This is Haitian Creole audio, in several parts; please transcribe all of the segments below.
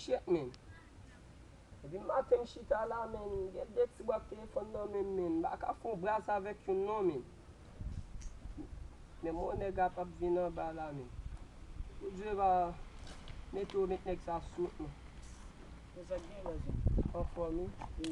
Shit man. Depi maten m chita la man, m gen 2 ti bwat telefòn nan menm man, m pa ka fè yon bras avèk youn non man. Menm yon nèg ap ap vin anba la man. Pou Dye va mete yo met nèg sa sou t man. Anfòm wi.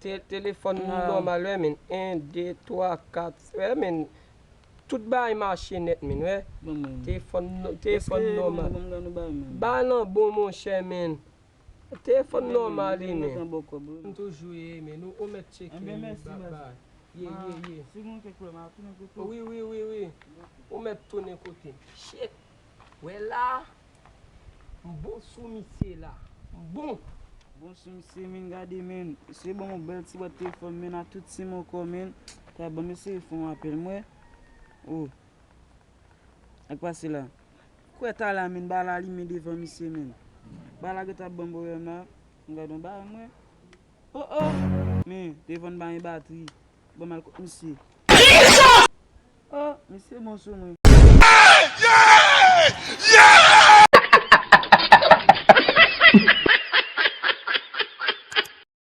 Te telefòn nou nòmal wè min 1 2 3 4 wè min tout bagay mache nèt min wè tefòn nou tefòn nòmal bagay lan bon monchè min tefòn nòmal wi min. M toujou ye min ou mèt tcheke min bby ye ye ye wi wi wi wi ou mèt tounen kote m. Wè la m bon sou misye la m bon. Bon sou misye menn gade menn. Mesye banm yon bèl ti bwat telefòn menn ak tout sim ankò menn ta banm eseye fè yon apèl m wè oh sak pase la kwè ta la menn bala limen devan misye menn bala gèt ap banm pwoblèm la m gad yon bagay m wè oh oh men telefòn m pa gen batri banm al kot misye. Oh misye bon sou mwen.